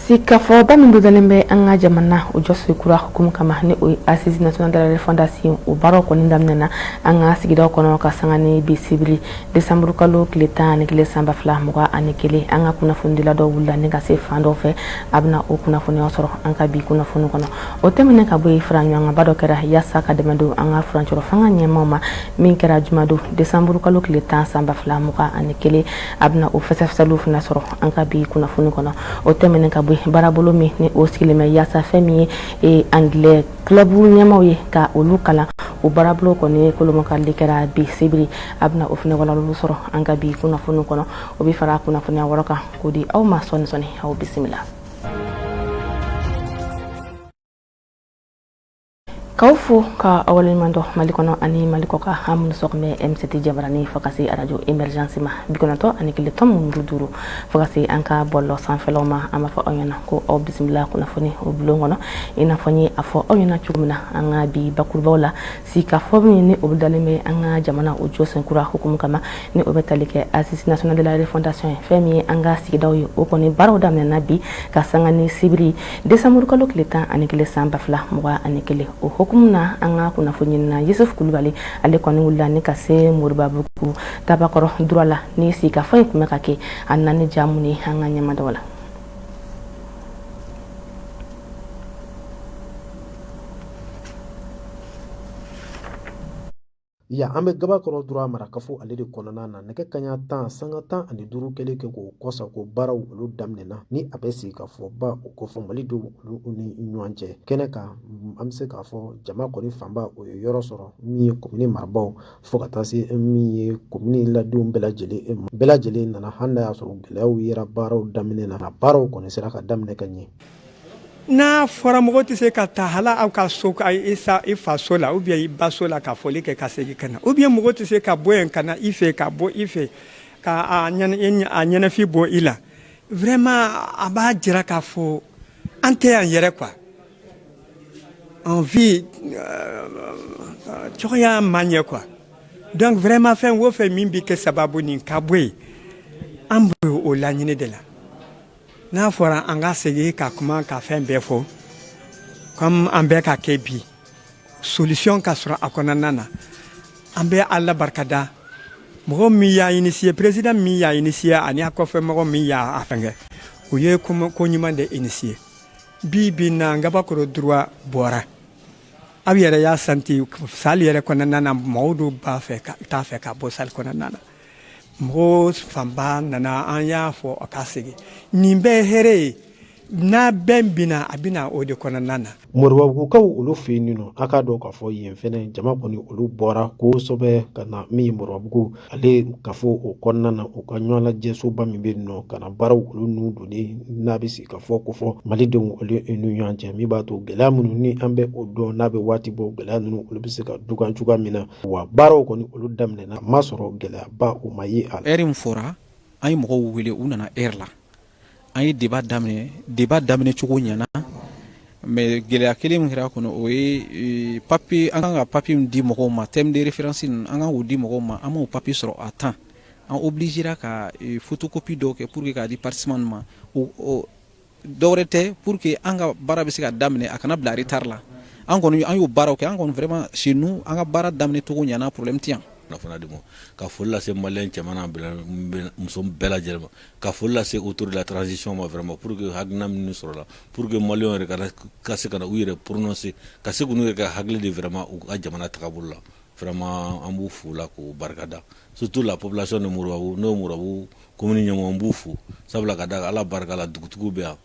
sigikafɔba min bolodalen bɛ an ka jamana o jɔsen kura hukumu kama ni o ye assise national de la refondation o baaraw kɔni daminɛna an ka sigidaw kɔnɔ ka sanga ni bi sibiri desanburu kalo tile tan ani kelen san ba fila mugan ani kelen an ka kunnafonidila dɔ wulila ni ka se fan dɔw fɛ a bɛna o kunnafoniyaw sɔrɔ an ka bi kunnafoni kɔnɔ o tɛmɛnen ka bɔ yen faraɲɔgɔnkanba dɔ kɛra yaasa ka dɛmɛ don an ka furancɛrɔ fanga ɲɛmaaw ma min kɛra jumadon desanburukalo tile tan sanba fila mugan ani kelen a bɛna o fɛsɛfɛsɛliw fana sɔrɔ an ka bi kunnafoni kɔnɔ o tɛmɛnen ka bɔ yen baarabolo min ni o sigilen bɛ yaasa fɛn min ye angilɛ clubu ɲɛmaaw ye ka olu kalan o baarabolo kɔni kolomakali kɛra bi sibiri a bɛna o fana walawalali sɔrɔ an ka bi kunnafoni kɔnɔ o bɛ fara kunnafoniya wɛrɛw kan k'o di aw ma sɔɔni sɔɔni aw bisimila K'aw fo ka aw waleɲumandɔn Mali kɔnɔ ani Mali kɔkan an minnu sɔgɔ bɛ MCT jabaranin fo ka se arajo emergence ma bi kɔnɔntɔn ani kelen tomi muru duuru fo ka se an ka bɔlɔlɔ sanfɛlaw ma an b'a fɔ aw ɲɛna ko aw bisimila kunnafoni o bulon kɔnɔ i n'a fɔ n ye a fɔ aw ɲɛna cogo min na an ka bi bakurubaw la sigikafɔ min ni o bolodalen bɛ an ka jamana o jɔsen kura hukumu kama ni o bɛ tali kɛ assise nationale de la refondation ye fɛn min ye an ka sigidaw ye o kɔni baaraw daminɛna bi ka sanga ni sibiri desanburukalo tile tan ani kelen san ba fila mugan ani kelen o hukumu na an ka kunnafoniɲinina yusuf kulubali ale kɔni wulila ni ka se moribabugu tabakɔrɔ droit la ni sigikafɔ in tun bɛ ka kɛ a nana ni ja minnu ye an ka ɲɛmada u la Yan an bɛ gabakɔrɔ droit marakafo ale de kɔnɔna na nɛgɛ kanɲɛ tan sanga tan ani duuru kɛlen kɛ k'o kɔsagon baaraw olu daminɛna ni a bɛ sigikafɔba o kofɔ maliden olu ni ɲɔgɔn cɛ kɛnɛ kan an bɛ se k'a fɔ jama kɔni fanba o ye yɔrɔ sɔrɔ min ye komini marabaw fo ka taa se min ye komini ladenw bɛɛ lajɛlen nana hali n'a y'a sɔrɔ gɛlɛyaw yera baaraw daminɛ na baaraw kɔni sera ka daminɛ ka ɲɛ N'a fɔra mɔgɔ tɛ se ka taa hali aw ka so i fa so la ou bien i ba so la ka foli kɛ ka segin ka na ou bien mɔgɔ tɛ se ka bɔ yen ka na i fɛ ka bɔ i fɛ k'a ɲɛnafin bɔ i la vraiment a b'a jira k'a fɔ an tɛ an yɛrɛ quoi an vie cogoya ma ɲɛ quoi donc vraiment fɛn o fɛn min bɛ kɛ sababu ni ka bɔ yen an b'o laɲini de la N'a fɔra an ka sigi ka kuma ka fɛn bɛɛ fɔ comme an bɛ k'a kɛ bi solution ka sɔrɔ a kɔnɔna na an bɛ Ala barika da mɔgɔ min y'a initier président min y'a initier ani a kɔfɛ mɔgɔ min y'a fɛngɛ u ye ko ɲuman de initier bi bi na ngabakɔrɔ droit bɔra aw yɛrɛ y'a santi sali yɛrɛ kɔnɔna na mɔgɔw don b'a fɛ ka t'a fɛ ka bɔ sali kɔnɔna na mɔgɔ fanba nana an y'a fɔ a ka sigi nin bɛɛ hɛrɛ ye ni bɛn bɛ na a bɛ na o de kɔnɔna na moribabugukaw olu fɛ yen nɔ a k'a dɔn k'a fɔ yen fɛnɛ jama kɔni olu bɔra kosɛbɛ ka na min ye moribabugu ale kafo o kɔnɔna na u ka ɲɔgɔn lajɛsoba min bɛ yen nɔ ka na baaraw olu n'u donni n'a bɛ sigi ka fɔ kofɔ malidenw olu n'u ɲɔgɔn cɛ min b'a to gɛlɛya minnu ni an bɛ o dɔn n'a bɛ waati bɔ gɛlɛya ninnu olu bɛ se ka dukan cogoya min na wa baaraw kɔni olu daminɛ na maa sɔrɔ gɛlɛyaba o ma ye a la heure min fɔra an ye mɔgɔw wele u nana heure la an ye débat daminɛ débat daminɛ cogo ɲɛna mais gɛlɛya kelen min kɛra kɔnɔ o ye e, papier an kan ka papier min di mɔgɔw ma termes de référence an kan k'o di mɔgɔw ma an m'o papier sɔrɔ à temps an obligera ka e, photocopie dɔw kɛ pour que k'a di participants ma dɔ wɛrɛ tɛ pour que an ka baara bɛ se ka daminɛ a kana bila retard la an kɔni an y'o baaraw kɛ an kɔni vraiment chez nous an ka baara daminɛ cogo ɲana problème tɛ yan kunnafoniya di ma ka foli lase maliyɛn cɛman n'a muso bɛɛ lajɛlen ma ka foli lase autorités de la transition ma vraiment pour que hakilina minnu sɔrɔla pour que maliyɛnw yɛrɛ ka se ka na u yɛrɛ prononcer ka se k'u yɛrɛ ka hakili di vraiment u ka jamana tagabolo la Vraiment an b'u fo la k'u barika da surtout la population de moribabugu commune ɲɛmɔgɔ an b'u fo sabula ka da ala barika la dugutigi bɛ yan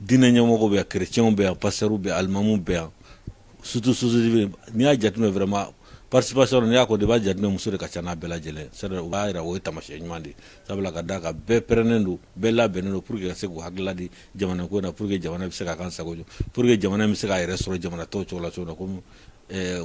diinɛ ɲɛmɔgɔ bɛ yan chrétiens bɛ yan pasteurs bɛ alimamu bɛ yan surtout aussi n'i y'a jateminɛ vraiment participation n'i y'a ko débat jate muso de ka ca n'a bɛɛ lajɛlen sari u b'a jira o ye taamasiyɛn ɲuman de sabula ka d'a kan bɛɛ pɛrɛnen don bɛɛ labɛnnen don pour que ka se k'u hakilila di jamana ko na pour que jamana bɛ se ka kan sago pour que jamana bɛ se k'a yɛrɛ sɔrɔ jamana tɔw cogo la cogo na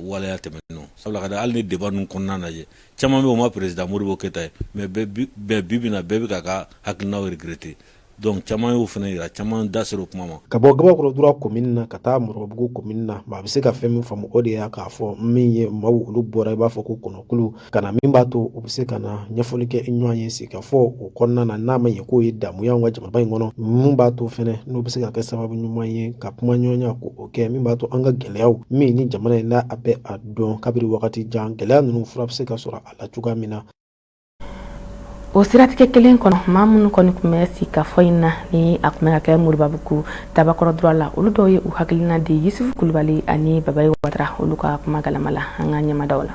waleya tɛmɛnenw sabula ka da hali ni débat ninnu kɔnɔna na jeune caman bɛ u ma président modibo keyita ye mais bɛɛ bi bi na bɛɛ bɛ k'a ka hakilina regretter donc caman y'o fana jira caman da sera o kuma ma ka bɔ ngabakɔrɔ droit commune na ka taa moribabugu commune na maa bɛ se ka fɛn min faamu o de y'a k'a fɔ min ye maaw olu bɔra i b'a fɔ ko kɔnɔ kulu ka na min b'a to u bɛ se ka na ɲɛfɔli kɛ ɲɔgɔn ye sigi ka fɔ o kɔnɔna na n'a ma ɲɛ k'o ye damu y'anw ka jamana in kɔnɔ min b'a to fana n'o bɛ se ka kɛ sababu ɲuman ye ka kuma ɲɔgɔnya ko o kɛ min b'a to an ka gɛlɛyaw min ni jamana in na a bɛ a dɔn kabiri wagati jan gɛlɛya ninnu fura bɛ se ka sɔrɔ a la cogoya min na o siratigɛ kelen kɔnɔ maa minnu kɔni tun bɛ sigi ka fɔ in na ni a tun bɛ ka kɛ moribabugu ngabakɔrɔ droit la olu dɔw ye u hakilina di yusufu kulubali ani babayi watara olu ka kuma galama la an ka ɲɛmadaw la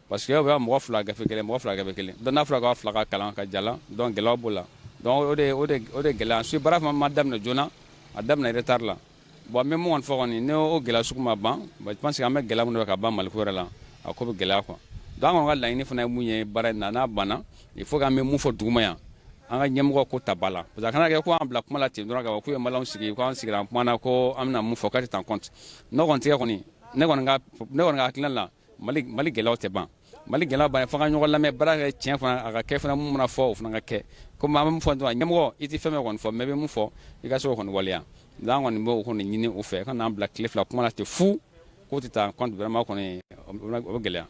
Parce que bɛ mɔgɔ fila gafe kelen mɔgɔ fila gafe kelen donc n'a fɔra k'a fila ka kalan ka ja donc gɛlɛya b'o la o de gɛlɛya ensuite baara ma daminɛ joona a daminɛ retard la bon n bɛ mun fɔ kɔni n'o gɛlɛya sugu ma ban je pense que an bɛ gɛlɛya min ka ban Mali yɛrɛ la a ko bɛ gɛlɛya quoi an kɔni ka laɲini fana ye mun ye baara in na n'a banna il faut an bɛ mun fɔ duguma yan an ka ɲɛmɔgɔ k'o ta ba la parce que a kana kɛ ko u n'an bila kuma la ten dɔrɔn ka fɔ k'u ye maliyɛnw sigi k'an sigira an kumana ko an bɛna mun fɔ k'a tɛ ta en compte n'o kɔni tɛ kɔni ne kɔni ka hakilina la Mali Mali gɛlɛyaw tɛ ban Mali gɛlɛyaw bannen f'an ka ɲɔgɔn lamɛn baara ka kɛ tiɲɛ fana a ka kɛ fana mun mana fɔ o fana ka kɛ comme an bɛ mun fɔ dɔrɔn ɲɛmɔgɔ i tɛ fɛn min kɔni fɔ mais i bɛ mun fɔ i ka se k'o kɔni waleya donc an kɔni b'o kɔni ɲini u fɛ u kan'an bila tile fila kuma na ten fu k'o tɛ ta en compte vraiment kɔni o bɛ gɛlɛya.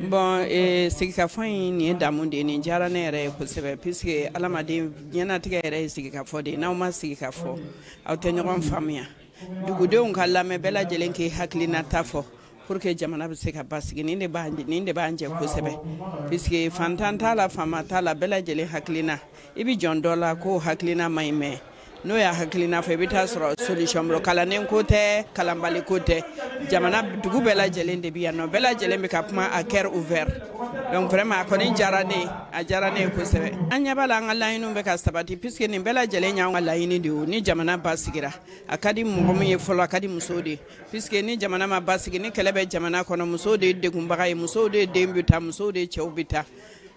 Bon ee sigikafɔ in nin ye damu de ye nin diyara ne yɛrɛ ye kosɛbɛ puisque adamaden diɲɛnatigɛ yɛrɛ ye sigikafɔ de ye n'aw ma sigi ka fɔ aw tɛ ɲɔgɔn faamuya dugudenw ka lamɛn bɛɛ lajɛlen k'i hakilinata fɔ Pour que jamana bɛ se ka basigi nin de b'a nin de b'an jɛ kosɛbɛ puisque faantan t'a la faama t'a la bɛɛ lajɛlen hakilina i bɛ jɔn dɔ la k'o hakilina man ɲi mais n'o y'a hakilina fɔ i bɛ t'a sɔrɔ solution bolo kalannen ko tɛ kalanbali ko tɛ jamana dugu bɛɛ lajɛlen de bɛ yan nɔ bɛɛ lajɛlen bɛ ka kuma à cœur ouvert donc vraiment a kɔni diyara ne ye a diyara ne ye kosɛbɛ an ɲɛ b'a la an ka laɲiniw bɛ ka sabati puisque nin bɛɛ lajɛlen y'anw ka laɲini de ye o ni jamana basigira a ka di mɔgɔ min ye fɔlɔ a ka di musow de ye Puisque ni jamana ma basigi ni kɛlɛ bɛ jamana kɔnɔ musow de ye degunbaga ye musow de ye den bɛ taa musow de ye cɛw bɛ taa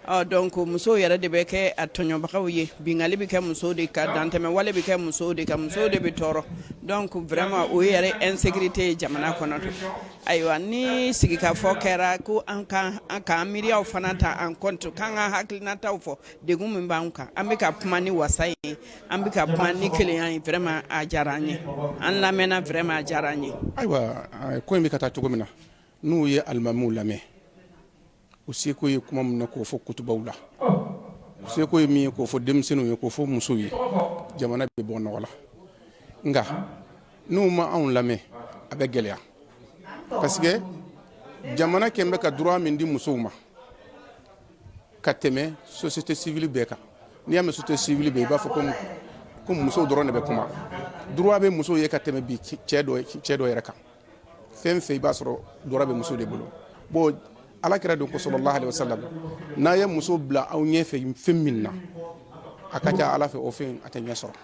ɔ donc musow yɛrɛ de bɛ kɛ a tɔɲɔbagaw ye binkanni bɛ kɛ musow de kan dantɛmɛ wale bɛ kɛ musow de kan musow de bɛ tɔɔrɔ donc vraiment o ye yɛrɛ insécurité ye jamana kɔnɔ ayiwa ni sigikafɔ kɛra ko an kan an k'an miiriyaw fana ta en compte k'an ka hakilinataw fɔ degun min b'an kan an bɛ ka kuma ni wasa ye An bɛ ka kuma ni kelenya ye vraiment a diyara an ye, an lamɛnna vraiment a diyara an ye, ayiwa ko in bɛ ka taa cogo min na n'u ye alimamiw lamɛn u seko ye kuma min na k'o fɔ kutubaw la u seko ye min ye k'o fɔ denmisɛnninw ye k'o fɔ musow ye jamana bɛ bɔ nɔgɔ la nka n'u ma anw lamɛn a bɛ gɛlɛya parce que jamana kɛlen bɛ ka droit min di musow ma ka tɛmɛ société civile bɛɛ kan n'i y'a mɛn société civile bɛɛ i b'a fɔ ko ko muso dɔrɔn de bɛ kuma droit bɛ muso ye ka tɛmɛ bi cɛ dɔ yɛrɛ kan fɛn fɛn i b'a sɔrɔ droit bɛ muso de bolo bon ala kira don ko sallallahu alaihi wasallam n'a ye muso bila aw ɲɛfɛ fɛn min na a ka ca ala fɛ o fɛn a tɛ ɲɛ sɔrɔ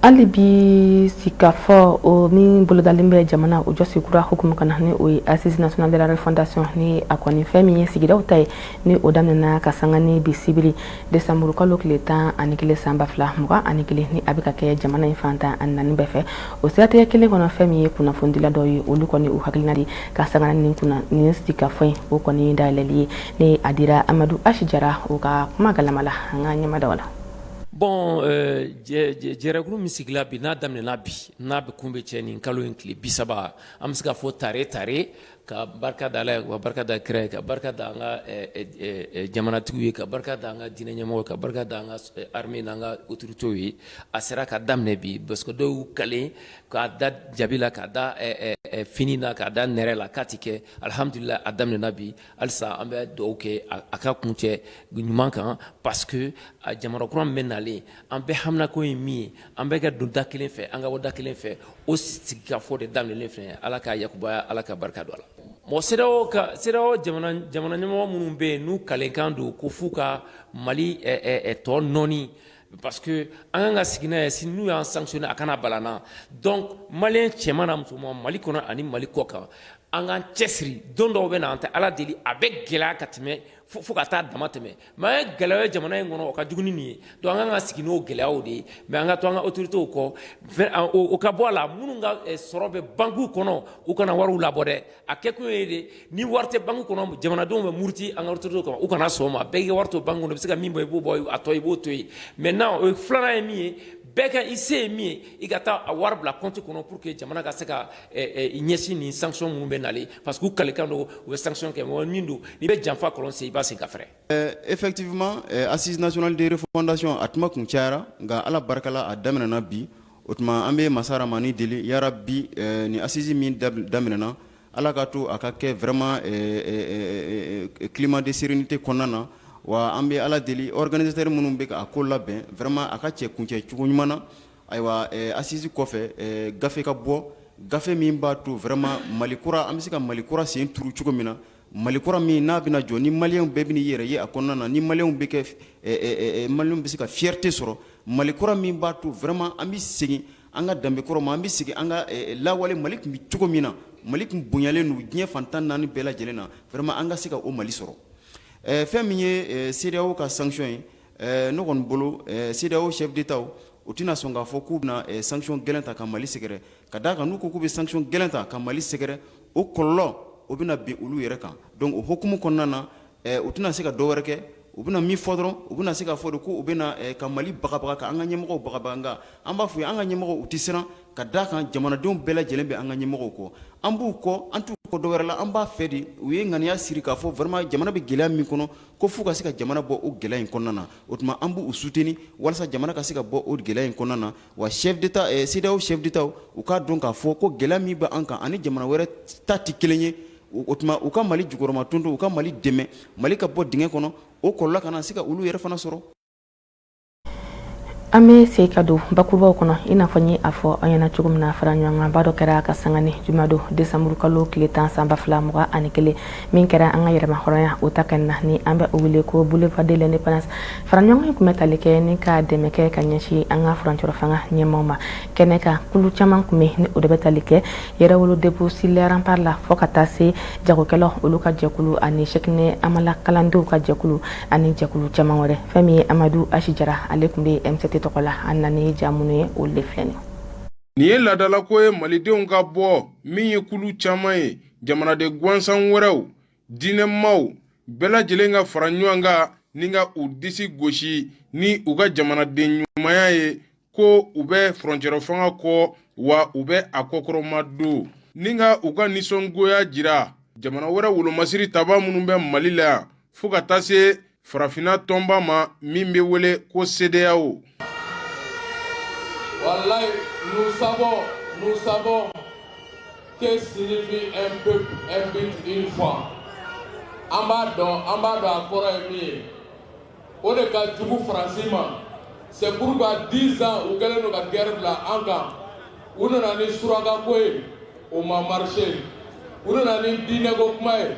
hali bi sikafɔ o min bolodalen bɛ jamana o jɔsi kura hukumu kɔnɔ ni o ye assise nationale de la refondation ni a kɔni fɛn min ye sigidaw ta ye ni o daminɛna ka sanga ni bi sibiri desanburu kalo tile tan ani kelen san ba fila mugan ani kelen ni a bɛ ka kɛ jamana in fan tan ani naani bɛɛ fɛ o siratigɛ kelen kɔnɔ fɛn min ye kunnafonidila dɔw ye olu kɔni u hakilina di ka sanga ni nin sikafɔ in o kɔni dayɛlɛli ye ni a dira amadu asi jara o ka kuma galama la an ka ɲɛmadaw la Bon jɛrɛkulu min sigila bi n'a daminɛna bi n'a bɛ kun bɛ cɛ nin kalo in tile bi saba an bɛ se ka fɔ tare tare ka barika da Ala ye ka barika da kira ye ka barika da an ka jamanatigiw ye ka barika da an ka diinɛ ɲɛmɔgɔw ye ka barika da an ka armée n'an ka autorités ye a sera ka daminɛ bi parce que dɔw y'u kalen k'a da jabi la k'a da fini na k'a da nɛrɛ la k'a tɛ kɛ alhamdulila a daminɛna bi Halisa an bɛ dugawu kɛ a ka kuncɛ ɲuman kan parce que a jamana kura min bɛ nalen an bɛɛ haminako ye min ye an bɛɛ ka don da kelen fɛ an ka bɔ da kelen fɛ o sigikafɔ de daminɛlen filɛ ala k'a yakubaya ala ka barika don a la bon CEDEAO ka CEDEAO jamana ɲɛmɔgɔ minnu bɛ yen n'u kalenkan don ko f'u ka mali tɔ nɔɔni Parce que an kan ka sigi n'a ye si n'u y'an sanctionner a kana bala an na donc maliyɛn cɛman n'a musoman Mali kɔnɔ ani Mali kɔkan an k'an cɛsiri don dɔw bɛ na an tɛ Ala deli a bɛ gɛlɛya ka tɛmɛ fo ka taa damatɛmɛ mais an ye gɛlɛya ye jamana in kɔnɔ o ka jugu ni nin ye donc an ka kan ka sigi n'o gɛlɛyaw de ye mais an ka to an ka autorités kɔ o ka bɔ a la minnu ka sɔrɔ bɛ banques kɔnɔ u kana wariw labɔ dɛ A kɛ kun ye de ni wari tɛ banque kɔnɔ jamanadenw bɛ muruti an ka autorités kama u kana sɔn o ma bɛɛ k'i ka wari to banque kɔnɔ i bɛ se ka min bɔ i b'o bɔ a tɔ i b'o to yen maintenant o filanan ye min ye bɛɛ ka i se ye min ye i ka taa a wari bila compte kɔnɔ pour que jamana ka se ka ɲɛsin nin sanction minnu bɛ nalen parce que u kalikan don u bɛ sanction kɛ mais min don n'i bɛ janfa kɔlɔn sen i b'a sen ka fɛrɛ. Effectivement assise nationale de refondation a kuma kun cayara nka Ala barika la a daminɛna bi. O tuma an bɛ masa ramani deli yarabi nin assise min daminɛna ala k'a to a ka kɛ vraiment climat de sérénité kɔnɔna na wa an bɛ ala deli organisateurs minnu bɛ a ko labɛn vraiment a ka cɛ kuncɛ cogo ɲuman na ayiwa assise kɔfɛ gafe ka bɔ gafe min b'a to vraiment mali kura an bɛ se ka mali kura sen turu cogo min na Mali kura min n'a bɛna jɔ ni maliyɛnw bɛɛ bɛn'i yɛrɛ ye a kɔnɔna na ni maliyɛnw bɛ kɛ maliyɛnw bɛ se ka fierté sɔrɔ mali kura min b'a to vraiment an bɛ segin an ka danbe kɔrɔ ma an bɛ segin an ka lawale mali tun bɛ cogo min na mali tun bonyalen don diɲɛ fan tan naani bɛɛ lajɛlen na vraiment an ka se ka o mali sɔrɔ fɛn min ye CEDEAO ka sanction ye ne kɔni bolo CEDEAO chefs d'État u tɛna sɔn k'a fɔ k'u bɛna sanction gɛlɛn ta ka mali sɛgɛrɛ ka d'a kan n'u ko k'u bɛ sanction gɛlɛn ta ka mali sɛgɛrɛ o kɔlɔlɔ o bɛna bin olu yɛrɛ kan donc o hukumu kɔnɔna na u tɛna se ka dɔ wɛrɛ kɛ u bɛna min fɔ dɔrɔn u bɛna se ka fɔ de ko u bɛ na ka mali bagabaga ka an ka ɲɛmɔgɔw bagabaga an b'a fɔ u ye an ka ɲɛmɔgɔw u tɛ siran ka da a kan jamanadenw bɛɛ lajɛlen bɛ an ka ɲɛmɔgɔw kɔ an b'u kɔ an t'u kɔ dɔ wɛrɛ la an b'a fɛ de u ye ŋaniya siri k'a fɔ vraiment jamana bɛ gɛlɛya min kɔnɔ ko f'u ka se ka jamana bɔ o gɛlɛya in kɔnɔna na o tuma an b'u soutenir walasa jamana ka se ka bɔ o gɛlɛya in kɔnɔna na wa chef d'Etat CEDEAO chef d'Etat u k'a dɔn k'a fɔ ko gɛlɛya min bɛ an kan ani jamana wɛrɛ ta tɛ kelen ye, o tuma u ka Mali jukɔrɔmatonton u ka Mali dɛmɛ Mali ka bɔ dingɛ kɔnɔ o kɔlɔlɔ kana se ka olu yɛrɛ fana sɔrɔ. An bɛ segin ka don bakurubaw kɔnɔ i n'a fɔ n ye a fɔ aw ɲɛna cogo min na faraɲɔgɔnkanba dɔ kɛra ka sanga ni juma don desanburukalo tile tan san ba fila mugan ani kelen min kɛra an ka yɛrɛmahɔrɔnya o ta kɛnɛ na ni an bɛ o wele ko boulevard de l'indépendance faraɲɔgɔn ye tun bɛ tali kɛ ni ka dɛmɛ kɛ ka ɲɛsin an ka furancɛrɔ fanga ɲɛmaaw ma kɛnɛ kan kulu caman tun bɛ ni o de bɛ tali kɛ yɛrɛwolo debout sur les remparts la fɔ ka taa se jagokɛlaw olu ka jɛkulu ani sɛkinɛ hamala kalandenw ka jɛkulu ani jɛkulu caman wɛrɛ fɛn min ye amadu H jara ale tun bɛ mct tɔgɔ la an nana ni ja minnu ye olu de filɛ nin nin ye laadalako ye malidenw ka bɔ min ye kulu caman ye jamanaden gansan wɛrɛw diinɛmaw bɛɛ lajɛlen ka fara ɲɔgɔn kan ni ka u disi gosi ni u ka jamanaden ɲumanya ye ko u bɛ furancɛrɔ fanga kɔ wa u bɛ a kɔkɔrɔmadon ni ka u ka nisɔngoya jira jamana wɛrɛ wolomasiri taba minnu bɛ mali la yan fo ka taa se farafinna tɔnba ma min bɛ wele ko sedeyawo walayi nous savons nous savons que signifie un peuple un but une foi an b'a dɔn an b'a dɔn a kɔrɔ ye min ye o de ka jugu faransi ma c'est pourquoi dix ans u kɛlen don ka guerre bila an kan u nana ni surakako ye o ma marché u nana ni diinɛko kuma ye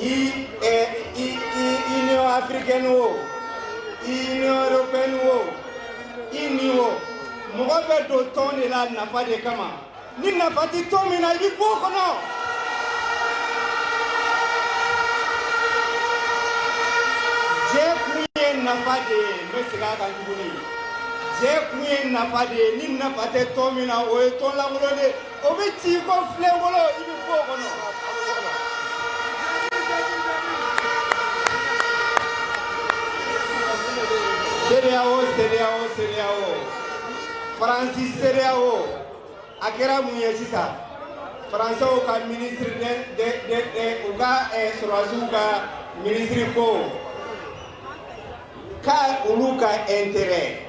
i i i union africaine wo i union européenne wo i nin wo mɔgɔ bɛ don tɔn de la nafa de kama ni nafa tɛ tɔn min na i bɛ bɔ o kɔnɔ. jɛkun ye nafa de ye n bɛ segin a kan tuguni jɛkun ye nafa de ye ni nafa tɛ tɔn min na o ye tɔn lankolon de ye. o bɛ ci ko filenkolon i bɛ bɔ o kɔnɔ. CEDEAO CEDEAO CEDEAO Faransi CEDEAO a kɛra mun ye sisan Faransɛw ka ministre de de de de u ka sɔrɔdasiw ka ministre ko k'olu ka intérêt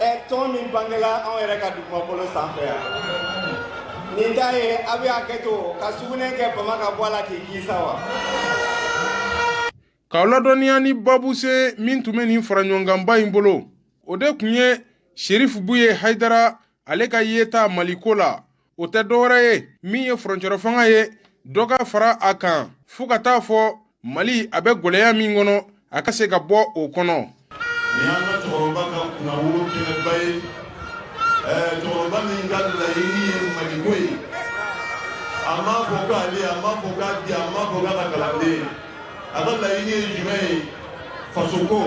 ɛ tɔn min bangela anw yɛrɛ ka dugumakolo sanfɛ yan nin ta ye aw bɛ hakɛ to ka sugunɛ kɛ bama ka bɔ a la k'i kisa wa k'aw ladɔnniya ni babu sen min tun bɛ nin faraɲɔgɔnkanba in bolo o de tun ye sherifu buye hayidara ale ka yeta maliko la o tɛ dɔwɛrɛ ye min ye furancɛrɔ fanga ye dɔ ka fara a kan fo ka taa fɔ mali a bɛ gɛlɛya min kɔnɔ a ka se ka bɔ o kɔnɔ nin y'an ka cɛkɔrɔba ka kunnawolo kɛnɛba ye cɛkɔrɔba min ka laɲini ye maliko ye a m'a fɔ k'ale a m'a fɔ k'a den a m'a fɔ k'a ka kalanden a ka laɲini ye jumɛn ye fasoko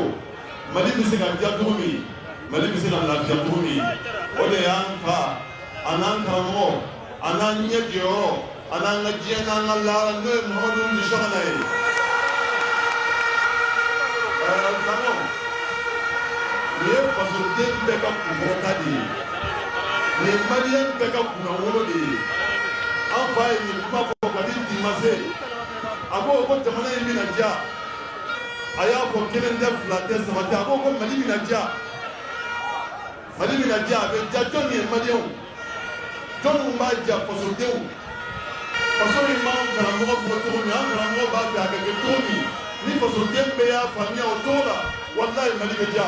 mali bɛ se ka diya cogo min mali bɛ se ka lafiya cogo min o de y'an fa a n'an karamɔgɔ a n'an ɲɛ jɔyɔrɔ a n'an ka diɲɛ n'an ka laara n'o ye mamadu nisɔngana ye karamɔgɔ nin ye fasoden bɛɛ ka kunkɔrɔta de ye nin ye maliyɛn bɛɛ ka kunnawolo de ye an fa ye nin kuma fɔ kabini bi ma se a ko ko jamana in bɛna diya a y'a fɔ kelen tɛ fila tɛ saba tɛ a ko ko mali bɛna diya mali bɛna diya a bɛ diya jɔn ye maliyɛnw jɔn minnu b'a diya fasodenw faso in b'an karamɔgɔ bɔ cogo min an karamɔgɔ b'a fɛ a ka kɛ cogo min ni fasoden bɛɛ y'a faamuya o cogo la walayi mali bɛ diya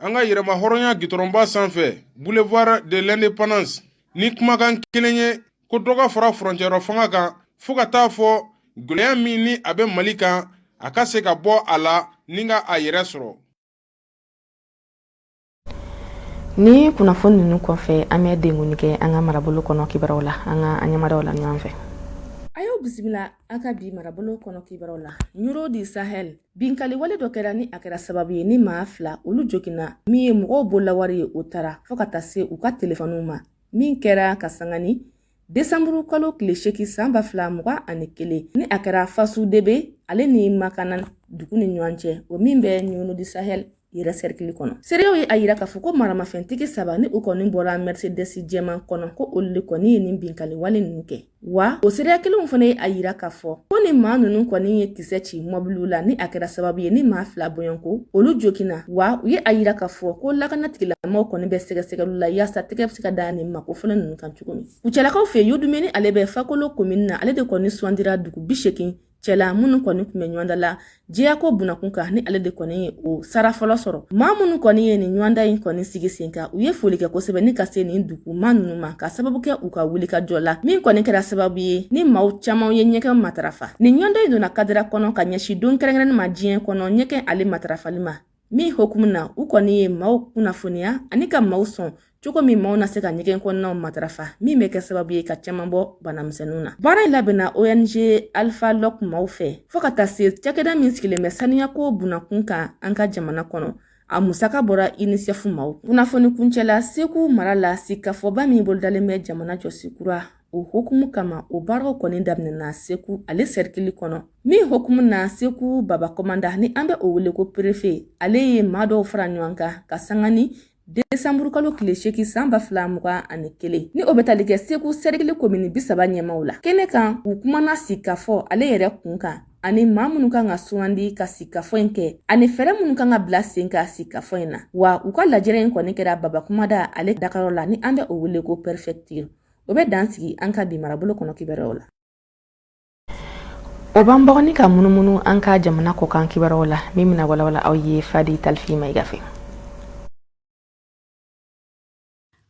an ka yɛrɛma hɔrɔnya gitɔrɔnba sanfɛ boulevard de l'indépendance ni kumakan kelen ye ko dɔ ka fara furancɛrɔ fanga kan fɔɔ ka taa fɔ gwɛlɛya min ni a bɛ mali kan a ka se ka bɔ a la ni ka a yɛrɛ sɔrɔ ni kunnafoni ninnu kɔfɛ an bɛ denguni kɛ an ka marabolo kɔnɔ kibaruyaw la an ka ɲɛmadaw la ɲɔgɔn fɛ ayiwa bisimila an ka bi marabolo kɔnɔ kibaruyaw la nioro du sahel Binkaliwale dɔ kɛra ni a kɛra sababu ye ni maa fila olu joginna min ye mɔgɔw bololawari ye o tara fɔɔ ka taa se u ka telefɔniw ma min kɛra ka sanga ni desanburu kalo tile segin san ba fila mugan ani kelen ni a kɛra fasu debe ale ni makanan dugu ni ɲɔgɔn cɛ o min bɛ nioro du sahel yɛrɛ sɛrikili kɔnɔ seerew ye a yira k'a fɔ ko maramafɛntigi saba ni u kɔni bɔra mercedes jɛman kɔnɔ ko olu le kɔni ye nin binkali wale nunu kɛ wa o seereya kelenw fana ye a yira k'a fɔ ko ni maa nunu kɔni ye kisɛ ci mɔbiliw la ni a kɛra sababu ye ni maa fila bɔɲɔnko olu joginna wa u ye a yira k'a fɔ ko lakanatigilamaw kɔni bɛ sɛgɛsɛgɛliw la yaasa tɛgɛ bɛ se ka da nin maa kofɔlen nunu kan cogo min kucalakaw fɛ yen dumeni ale bɛ fakolo komini na ale de kɔni sugandira dugu bi segin cɛla minnu kɔni tun bɛ ɲɔgɔndan la jɛyako bunakun kan ni ale de kɔni ye o sara fɔlɔ sɔrɔ maa minnu kɔni ye nin ɲɔgɔndan in kɔni sigi sen kan u ye foli kɛ kosɛbɛ ni ka se nin dugumaa ninnu ma ka sababu kɛ u ka wulikajɔ la min kɔni kɛra sababu ye ni maaw camanw ye ɲɛgɛn matarafa nin ɲɔgɔndan in donna kadira kɔnɔ ka ɲɛsin don kɛrɛnkɛrɛnnen ma diɲɛ kɔnɔ ɲɛgɛn ale matarafali ma Min hokumu na u kɔni ye maaw kunnafoniya ani ka maaw sɔn cogo min maaw na se ka ɲɛgɛn kɔnɔnaw matarafa min bɛ kɛ sababu ye ka caman bɔ banamisɛnninw na baara in labɛnna ong alphalog maaw fɛ fo ka taa se cakɛda min sigilen bɛ saniyako bunakun kan an ka jamana kɔnɔ a musaka bɔra unicef maaw kunnafoni kuncɛla segu mara la sigikafɔba min bolodalen bɛ jamana jɔsi kura o hukumu kama o baaraw kɔni daminɛna segu ale sɛrikili kɔnɔ min hukumu na segu baba kɔmanda ni an bɛ o wele ko perefe ale ye maa dɔw fara ɲɔgɔn kan ka sanga ni desanburu kalo tile seegin san ba fila mugan ani kelen ni o bɛ tali kɛ segu sɛrikili komini bisaba ɲɛmaaw la kɛnɛ kan u kumana sigikafɔ ale yɛrɛ kun kan ani maa minnu kan ka sugandi ka sigikafɔ in kɛ ani fɛɛrɛ minnu kan ka bila sen ka sigikafɔ in na wa u ka lajɛrɛ in kɔni kɛra baba kɔmanda ale dagayɔrɔ la ni an bɛ o wele ko pɛrɛfɛktiri o bɛ dan sigi an ka bi marabolo kɔnɔ kibaruyaw la o b'an bɔ kɔni ka munumunu an ka jamana kɔkan kibaruyaw la min bɛna walawala aw ye fadi talifi mayiga fɛ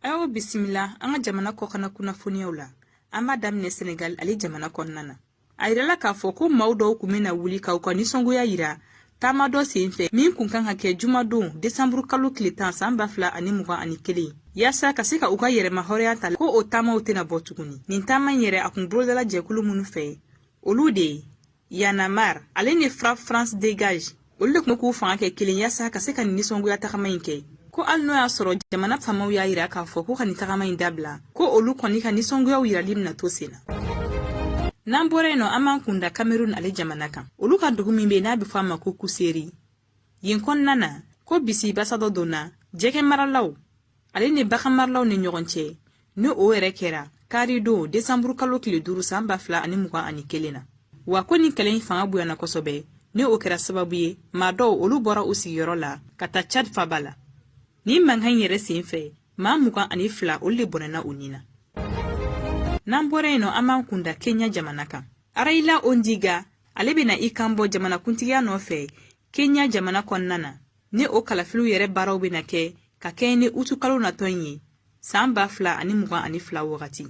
an y'aw bisimila an ka jamana kɔkanna kunnafoniyaw la an b'a daminɛ senegal ale jamana kɔnɔna na a yirala k'a fɔ ko maaw dɔw kun bɛna wuli ka u ka nisɔngoya yira taama dɔ sen fɛ min kun kan ka kɛ jumadon desanburu kalo tile tan saan ba fila ani mugan ani kelen yaasa ka se ka u ka yɛrɛmahɔrɔnya ta ko o taamaw tɛna bɔ tuguni nin taama in yɛrɛ a kun bolodala jɛkulu minnu fɛ olu de ye y'en a marre ale ni frapp france dégage olu de kun k'u fanga kɛ kelen yaasa ka se ka nin nisɔngoya tagama in kɛ ko hali n'o y'a sɔrɔ jamana faamaw y'a yira k'a fɔ ko ka nin tagama in dabila ko olu kɔni ka nisɔngoyaw yirali bɛna to sen na n'an bɔra yen nɔ an b'an kun da kamerun ale jamana kan olu ka dugu min bɛ n'a bɛ fɔ a ma ko kuseri yen kɔnɔna na ko bisi basa dɔ donna jɛgɛ maralaw ale ni baganmaralaw ni ɲɔgɔn cɛ ni o yɛrɛ kɛra karidon desanburu kalo tile duuru san ba fila ani mugan ani kelen na wa ko nin kɛlɛ in fanga bonyana kosɛbɛ ni o kɛra sababu ye maa dɔw olu bɔra u sigiyɔrɔ la ka taa chad faba la nin mankan in yɛrɛ sen fɛ maa mugan ani fila olu de bɔnɛna u ni na n'an bɔra yen nɔ an b'an kunda kenya jamana kan raila odinga ale bɛna i kan bɔ jamanakuntigiya nɔfɛ kenya jamana kɔnɔna na ni o kalafiliw yɛrɛ baaraw bɛna kɛ ka kɛɲɛ ni utukalo natɔ in ye saan ba fila ani mugan ani fila wagati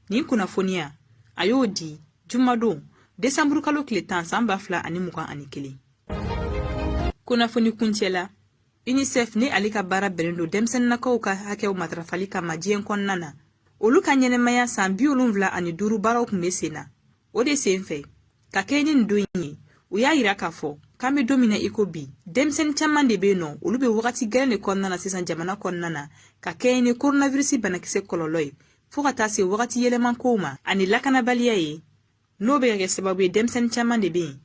nin kunnafoniya a y'o di jumadon desanburu kalo tile tan saan ba fila ani mugan ani kelen kunnafoni kuncɛla unicef ni ale ka baara bɛnnen don denmisɛnninakaw ka hakɛw matarafali kama diɲɛ kɔnɔna na olu ka ɲɛnamaya saan bi wolonwula ani duuru baaraw tun bɛ sen na o de sen fɛ ka kɛɲɛ ni nin don in ye u y'a yira k'a fɔ k'an bɛ don min na i ko bi denmisɛnnin caman de bɛ yen n'olu bɛ wagati gɛlɛn de kɔnɔna na sisan jamana kɔnɔna na ka kɛɲɛ ni koronavirisi banakisɛ kɔlɔlɔ ye fɔɔ ka taa se wagati yɛlɛma kow ma ani lakanabaliya ye n'o bɛ ka kɛ sababu ye denmisɛnnin caman de bɛ yen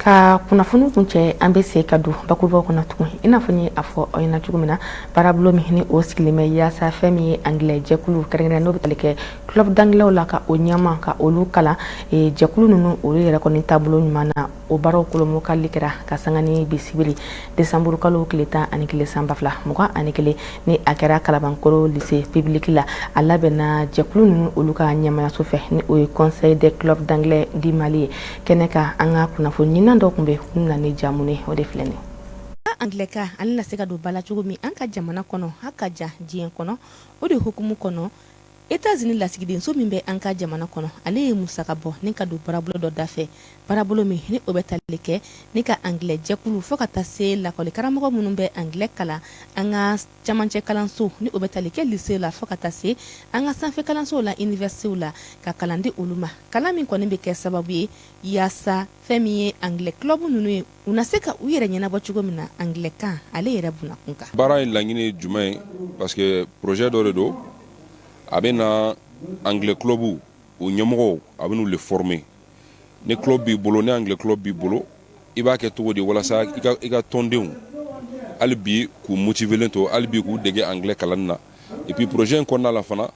ka kunnafoni kuncɛ an bɛ se ka don bakurubaw kɔnɔ tugun i n'a fɔ n ye a fɔ aw ɲɛna cogo min na baarabolo min ni o sigilen bɛ yaasa fɛn min ye anglais jɛkulu kɛrɛnkɛrɛnnen n'o bɛ tali kɛ club d'anglais la ka o ɲɛma ka olu kalan e, jɛkulu ninnu olu yɛrɛ kɔni taabolo ɲuman na o baaraw kolomokali kɛra ka sanga ni bi sibiri desanburu kalo tile tan ani kelen san ba fila mugan ani kelen ni a kɛra kalabankɔrɔ lise pibiliki la a labɛnna jɛkulu ninnu olu ka ɲɛmayaso fɛ ni o ye conseil des clubs d'anglais du mali ye kɛnɛ kan an ka kunnafoni ɲinina dɔ tun bɛ kun na ni jamu ye o de filɛ nin anglais kan ale na se ka don ba la cogo min an ka jamana kɔnɔ ha ka ja diɲɛ kɔnɔ o de hukumu kɔnɔ états-unis lasigidenso min bɛ an ka jamana kɔnɔ ale ye musaka bɔ ni ka don baarabolo dɔ dafɛ baarabolo min ni o bɛ tali kɛ ni ka anglais jɛkulu fo ka taa se lakɔli karamɔgɔ minnu bɛ anglais kalan an ka camancɛ kalanso ni o bɛ tali kɛ lise la fɔɔ ka taa se an ka sanfɛ kalansow la iniwɛrisitew la ka kalan di olu ma kalan min kɔni bɛ kɛ sababu ye yaasa fɛn min ye angilɛ kilɔbu ninnu ye u na se ka u yɛrɛ ɲɛnabɔ cogo min na angilɛkan ale yɛrɛ bunakun kan baara in laɲini ye jumɛn ye parce que projet dɔ de don a bɛ na angilɛ kilɔbu u ɲɛmɔgɔw a bɛ n'u le former ni club b'i bolo ni anglais club b'i bolo i b'a kɛ cogo di walasa i ka tɔndenw hali bi k'u motivelen to hali bi k'u dege anglais kalan na et puis projet in kɔnɔna la fana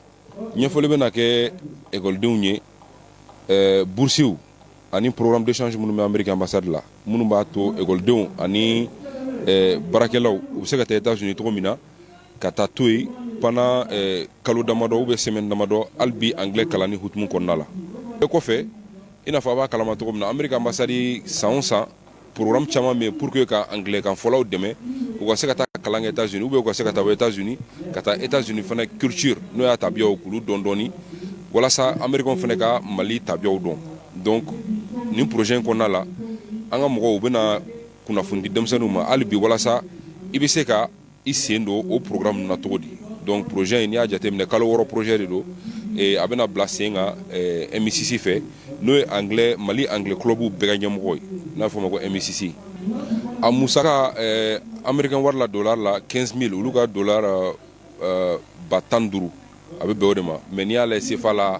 ɲɛfɔli bɛ na kɛ ekɔlidenw ye burusiw ani programme d'échange minnu bɛ amérique ambassade la minnu b'a to ekɔlidenw ani baarakɛlaw u bɛ se ka taa états-unis cogo min na ka taa to yen pendant kalo damadɔ ou bien semaine damadɔ hali bi anglais kalanni hukumu kɔnɔna la o kɔfɛ i n'a fɔ a b'a kalama cogo min na amérique ambassade san o san programme caman bɛ yen pour que ka anglais kan fɔlaw dɛmɛ u ka se ka taa kalan kɛ états-unis ou bien u ka se ka taa états-unis ka taa états-unis fana culture n'o y'a tabiyaw k'olu dɔn dɔɔni walasa américains fana ka mali tabiyaw dɔn donc nin projet in kɔnɔna la an ka mɔgɔw u bɛna kunnafoni di denmisɛnninw ma hali bi walasa i bɛ se ka I sen don o porourkuram min na cogo di dɔn pze in n y'a jateminɛ kalo wɔɔrɔ pze de don a bɛna bila sen ka e misisi fɛ n'o ye an mali an kulobu bɛɛ ɲɛmɔgɔ ye n'a fɔ ma ko e misisi a musa anbri wari la don la kɛnsin min olu ka don ba tan duuru a bɛ bɛn o de ma mɛ n'i y'aale senfa la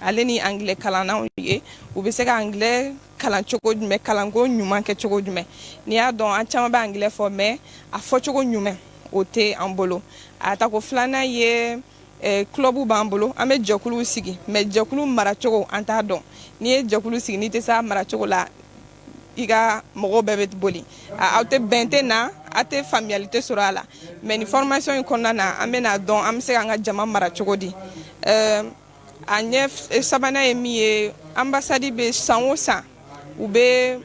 Ale ni anglais kalannaw ye u bɛ se ka anglais kalan cogo jumɛn kalanko ɲuman kɛ cogo jumɛn n'i y'a dɔn an caman bɛ anglais fɔ mais a fɔcogo ɲuman o tɛ an bolo a ta ko filanan ye club b'an bolo an bɛ jɛkulu sigi mais jɛkulu maracogo an t'a dɔn n'i ye jɛkulu sigi n'i tɛ se a maracogo la i ka mɔgɔw bɛɛ bɛ boli aw tɛ bɛn tɛ na aw tɛ faamuyali tɛ sɔrɔ a la mais ni formation in kɔnɔna na an bɛna dɔn an bɛ se k'an ka jama mara cogo di a ɲɛ eh, sabanan ye min ye ambassade bɛ san o san u bɛ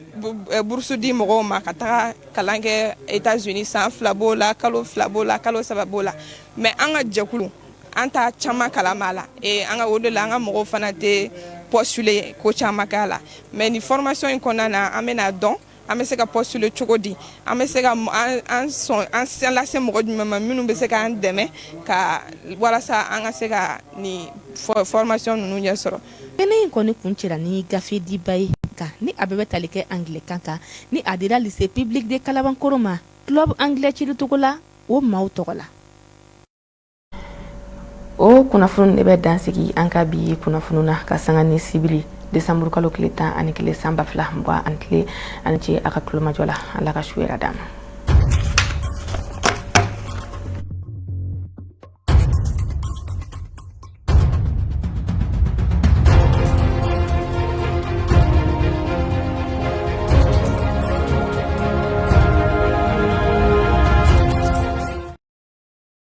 eh, burusu di mɔgɔw ma ka taga kalan kɛ États-Unis san fila b'o la kalo fila b'o la kalo saba b'o la mais an ka jɛkulu an t'a caman kalama la eh, an ka o de la an ka mɔgɔw fana tɛ postuler ko caman k'a la mais ni formation in kɔnɔna na an bɛna dɔn an bɛ se ka postuler cogo di an bɛ se ka an sɔn an sen lase mɔgɔ jumɛn ma minnu bɛ se k'an dɛmɛ ka walasa an ka se ka nin formation ninnu ɲɛ sɔrɔ kɛnɛ in kɔni kuncɛra ni gafe diba ye kan ni a bɛɛ bɛ tali kɛ anglais kan kan ni a dira lycée public de kalabankoro ma club anglais cili togola o maaw tɔgɔ la o kunnafoni de bɛ dansigi an ka bi kunnafoni na ka sanga ni sibiri desanburu kalo tile tan ani kelen san ba fila mugan ani kelen aw ni ce a ka tulomajɔ la ala ka su hɛrɛ d'an ma